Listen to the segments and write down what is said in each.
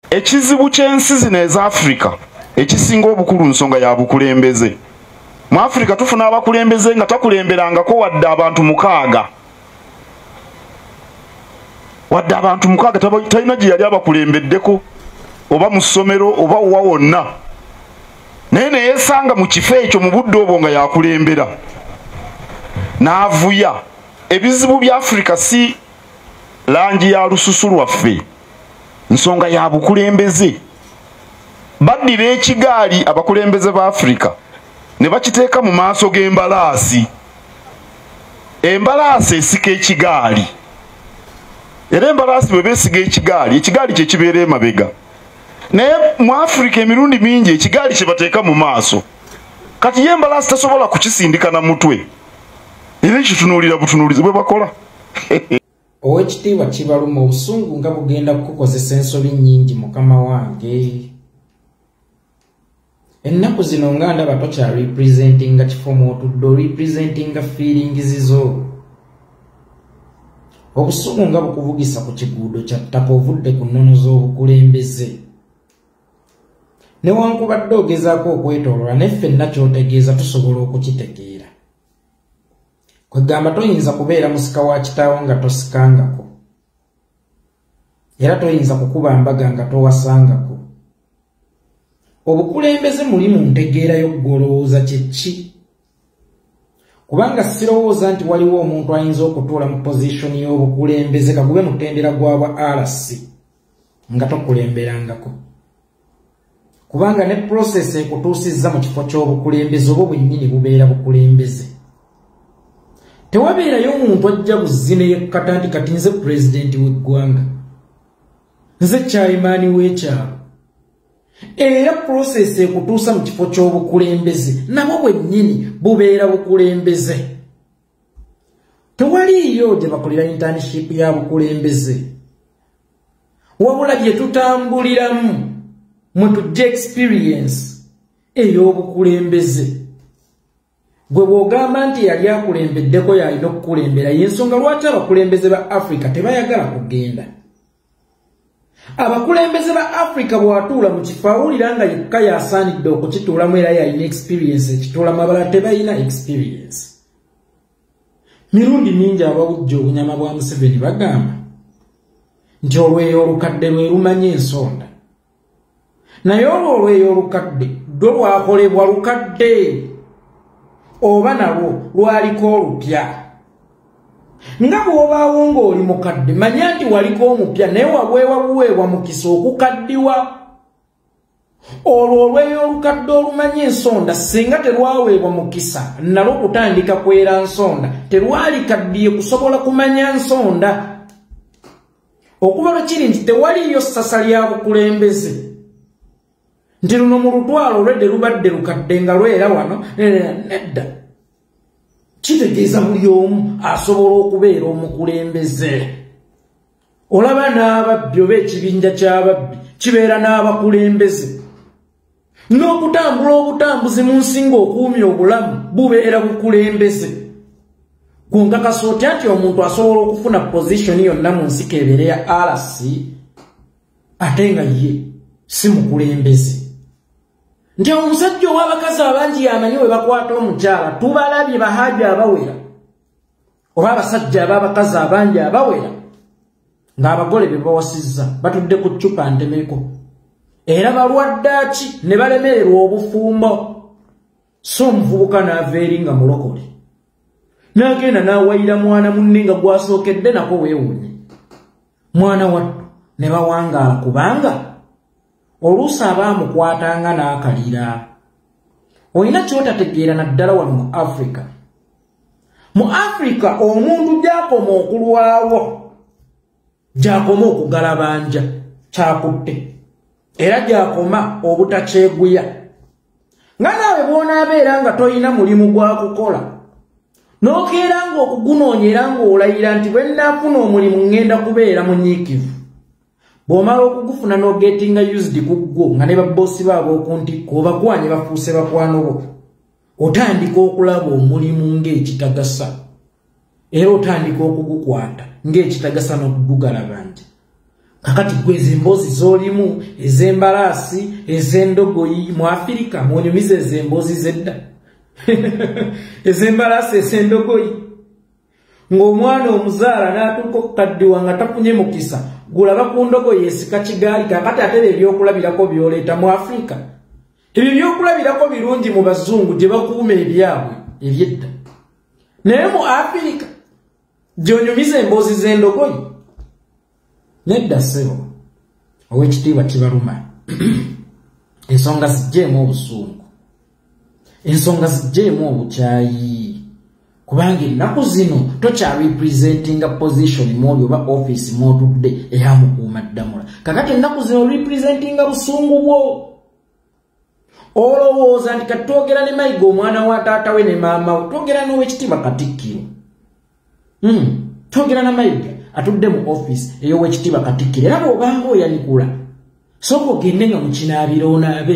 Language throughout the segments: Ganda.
ekizibu ky'ensi zino eza afirika ekisinga obukulu nsonga ya bukulembeze mu afirika tufuna abakulembeze nga takulemberangako wadde abantu mukaaga wadde abantu mukaaga talina gye yali abakulembeddeko oba mu ssomero oba wa wonna naye neyesanga mu kifo ekyo mu budde obwo nga yakulembera n'avuya ebizibu bya afirika si langi ya lususu lwaffe nsonga ya bukulembeze baddira ekigaali abakulembeze ba afirika ne bakiteeka mu maaso g'embalaasi embalaasi esika ekigaali era embalaasi bwe beesiga ekigaali ekigaali kye kibeera emabega naye mu afirika emirundi mingi ekigaali kye bateeka mu maaso kati ye embalaasi tasobola kukisindika na mutwe era ekitunuulira butunuulizi bwe bakola owekitiibwa kibaluma obusungu nga bugenda kukukozesa ensobi nyingi mukama wange ennaku zino nga ndaba tokya representinga kifo mwotudde orepresentinga fiiringizizo obusungu nga bukuvugisa ku kiguudo kya ttaka ovudde ku nnono z'obukulembeze newankubadde ogezaako okwetolola naye ffenna kyotegeeza tusobola okukitegeera kwegamba toyinza kubeera musika wa kitaawo nga tosikangako era toyinza kukuba mbaga nga towasangako obukulembeze muli mu ntegeera y'okugolowooza kyekki kubanga sirowooza nti waliwo omuntu ayinza okutuula mu pozishoni y'obukulembeze kagube mutendera gwabwa rc nga tokulemberangako kubanga ne process ekutuusizza mu kifo ky'obukulembeze obwo bwennyini bubeera bukulembeze tewabeerayo omuntu ajja buzzi neyekkata nti kati nze pulezidenti w'eggwanga nze kyayimaani w'ekyalo era process ekutuusa mu kifo ky'obukulembeze nabwo bwennyini bubeera bukulembeze tewaliiyo gye bakolera internship ya bukulembeze wabula gye tutambuliramu mwe tujja experience ey'obukulembeze gwe bw'ogamba nti yali akulembeddeko yalina okukulembera y'ensonga lwaki abakulembeze ba africa tebayagala kugenda abakulembeze ba africa bwatuula mu kifo awulira nga yekka yasaanidde okukituulamu era yalina experience ekituulamu abala tebalina experience mirundi mingi abawujja obunyama bwa museveni bagamba nti olweyo olukadde lwe lumanya ensonda naye olwo olweyo olukadde lwo lwakolebwa lukadde oba nalwo lwaliko olupya nga bw'obaawo ng'oli mukadde manya nti waliko omupya naye waweewa buweebwa mukisa okukaddiwa olwo olweyo olukadde olumanya ensonda singa terwaweebwa mukisa nalwo kutandika kwera nsonda terwalikaddiye kusobola kumanya nsonda okuva lwe kiri nti tewaliyo ssasa lya bukulembeze nti luno mu lutwalo olwedde lubadde lukadde nga lwera wano nedda kitegeeza buli omu asobola okubeera omukulembeze olaba n'ababbi oba ekibinja ky'ababbi kibeera n'abakulembeze n'okutambula obutambuzi mu nsinga okuumi obulamu bubeera bukulembeze ku nkakasa otya nti omuntu asobola okufuna pozisoni yonna mu nsika ebeere ya rc ate nga ye si mukulembeze nti omusajja ow'abakazi abangi yamanyi we bakwata omukyala tubalabye bahaaji abawera oba abasajja ab'abakazi abangi abawera ng'abagole be bawasizza batudde ku ccupa ntemeko era balwadde ki ne balemererwa obufumbo so omuvubuka n'ava eri nga mulokole n'agenda n'awayira mwana munne nga gwasookedde nako weewuunye mwana wattu ne bawangaala kubanga oluusi abaamukwatanga n'akalira olina kyotategeera naddala wano mu africa mu afrika omuntu gyakoma okulwawo gyakoma okugalabanja kyakutte era gyakoma obutakyeguya nga naawe bwonaabeera nga tolina mulimu gwa kukola n'okeera ng'okugunoonya era ng'olayira nti bwe nnaafuna omulimu ŋŋenda kubeera munyiikivu bw'omala okugufuna n'ogetinga used ku ggwo nga ne babboosi baabo okuntikko obakwanye bafuuse bakwano bo otandika okulaba omulimu ng'ekitagasa era otandika okugukwata ng'ekitagasa n'okugugalaba nti kakati gwe ezo emboozi z'olimu ez'embalaasi ez'endogoyi mu afirika mwonyumiza ezo emboozi z'edda ez'embalaasi ez'endogoyi ng'omwana omuzaala n'atuuka okukaddiwa nga tafunye mukisa gulaba ku ndogoyi esika kigaali kakati ate ebyokulabirako byoleeta mu afirika ebyo byokulabirako birungi mu bazungu gye bakuuma ebyabwe ebyedda naye mu afirika gyonyumiza emboozi z'endogoyi nedda ssebo ow'ekitiibwa kibaluma ensonga zijjeemu obusungu ensonga zijjeemu obukyayi kubanga ennaku zino tokya representinga position mwoli oba office mwotudde era mukuuma ddamula kakati ennaku zino representinga busungu bwo olowooza nti kati twogera ne mayiga omwana wa taata we ne maama we twogera n'owekitiibwa katikkiro hmm, twogera na mayiga atudde mu office ey'owekitiibwa katikkiro era bw'obanga oyanikula sooka ogende nga mukinaabira onaabe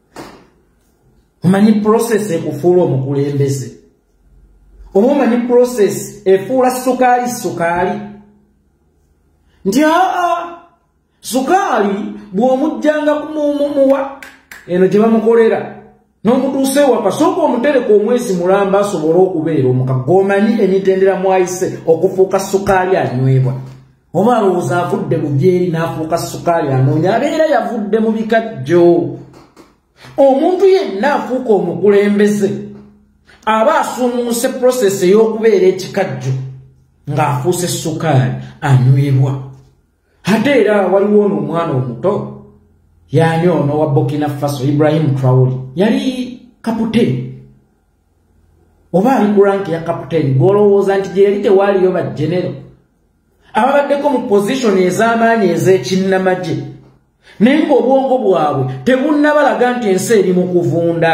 omanyi process ekufuula omukulembeze oba omanyi process efuula sukaali sukaali nti aa sukaali bw'omujjanga kumuumuwa eno gye bamukolera n'omutuusa ewaka sooka omutereka omwezi mulamba asobole okubeera omuka gwomanyi emitendera mwayise okufuuka sukaali anywebwa oba alowooza avudde mu byeri n'afuuka sukaali anoonya abeera yavudde mu bikajjo omuntu yenna afuuka omukulembeze aba asuumuuse prosesi ey'okubeera ekikajjo ng'afuuse sukaali anywebwa ate era waliwo ono omwana omuto yaani ono wa bokina faso ibrahimu trawoli yali kaputeni oba ali ku ranki ya kaputeni gw'olowooza nti gye yali tewaaliyo bajenero ababaddeko mu position ez'amaanyi ez'ekinnamagye naye ng'obwongo bwabwe tebunnabalaga nti ensi eri mu kuvunda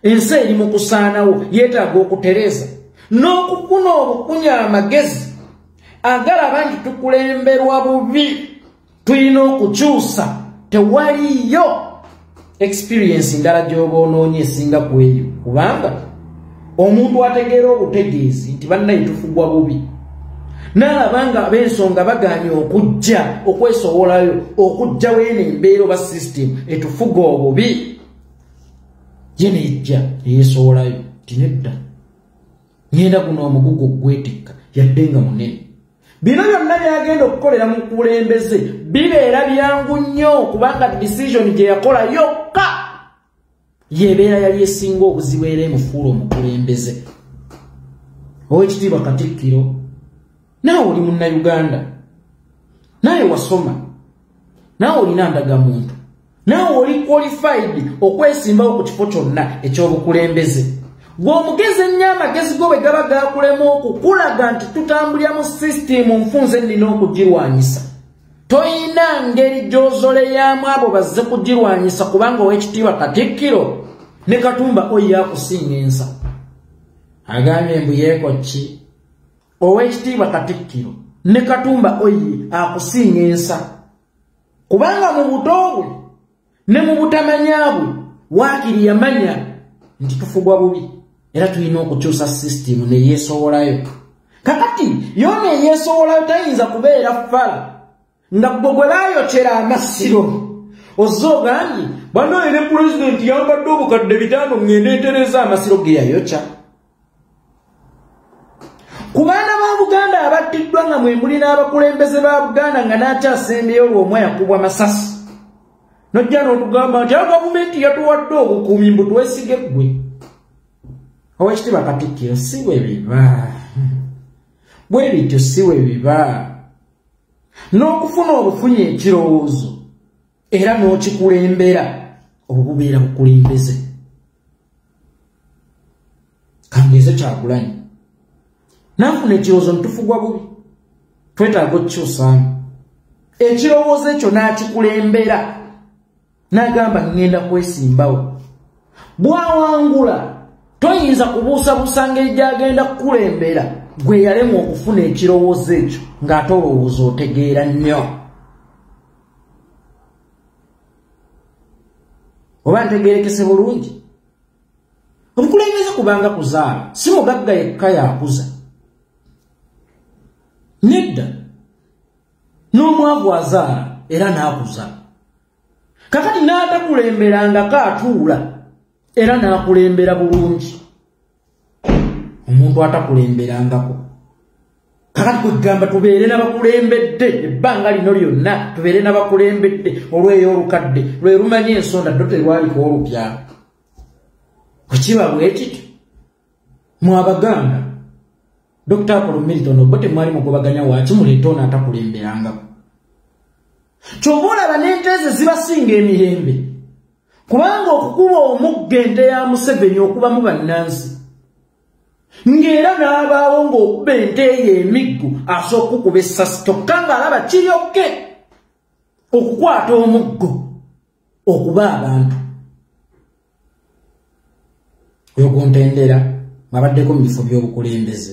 ensi eri mu kusaanawo yeetaaga okutereeza n'okukuna obukunya amagezi agalaba nti tukulemberwa bubi tulina okukyusa tewaliyo experience ndala gyoba onoonya esinga ku eyo kubanga omuntu ategeera obutegeezi nti bannaye tufugwa bubi n'alaba nga ab'ensonga bagaanye okujja okwesowolayo okujja weeno embeera oba system etufuga obubi ye nejja eyesowolayo tinedda ngenda guno omugugu ogwetikka yadde nga munene bino byonna byagenda okukolera mu kulembeze bibeera byangu nnyo kubanga disizoni gye yakola yokka yebeera yali esinga obuzibu era emufuula omukulembeze owekitiibwa katikkiro naawe oli munnauganda naawe wasoma naawe olina ndagamuntu naawe oli qualified okwesimbawo ku kifo kyonna ekyobukulembeze gweomugezi ennyo amagezi go bwe gaba gakulema okukulaga nti tutambulira mu sisitimu nfunze nnina okugirwanyisa toyina ngeri gyozoleyamu abo bazze kugirwanyisa kubanga owekitiibwa katikkiro ne katumba oyo yakusinga ensa agambye mbu yeeko ki owekitiibwa katikkiro ne katumba oyi akusinga ensa kubanga mu buto bwe ne mu butamanya bwe waakiri yamanya nti tufugwa bubi era tulina okukyusa sisitimu neyeesowolayo kakati yoona eyeesowolayo tayinza kubeera fala nga gwe gwe baayokera amasiro ozze ogambye banaye ne pulezidenti yambadde obukadde bitaano ng'enda entereeza amasiro ge yayokya ku baana ba buganda abattiddwa nga mwe muli n'abakulembeze ba buganda nga n'akyasembyeyo lw'omu yakubwa masasi nojja n'otugamba nti a gavumenti yatuwadde obukuumi mbu twesige ggwe owekitiba katikkiro si bwe biba bwe bityo si bwe biba n'okufuna obufunyi ekirowoozo era n'okikulembera obubeera bukulembeze kangeezo kyagulanyi nanfuna ekirowoozo ntufugwa bubi twetaaga okukyusaamu ekirowoozo ekyo n'akikulembera n'agamba ŋŋenda kwesimbawo bw'awangula toyinza kubuusabuusa ngeri gy'agenda kukulembera gwe yalemwa okufuna ekirowoozo ekyo ng'ate olowooza otegeera nnyo oba ntegeerekese bulungi obukulembeze kubanga kuzaala si mugagga yekka yakuza nedda n'omwavu azaala era n'akuza kakati n'atakulemberangako atuula era n'akulembera bulungi omuntu atakulemberangako kakati kwegamba tubeere nabakulembedde ebbanga lino lyonna tubeere nabakulembedde olweyo olukadde lwe lumanya ensonda ddo terwaliko olupya wekiba bwekityo mu abaganda dr apolo milton obo temwali mugobaganya waaki muleeta ono atakulemberangako kyova olaba n'ente ezo zibasinga emirembe kubanga okukuba omugga ente ya museveni okubamu bannansi ng'era n'abaawo ng'okuba ente eyo emiggu asooka okukuba essasi kyokka ng'alaba kiryokke okukwata omuggo okuba abantu oyo guntendera mwabaddeko mu bifo by'obukulembeze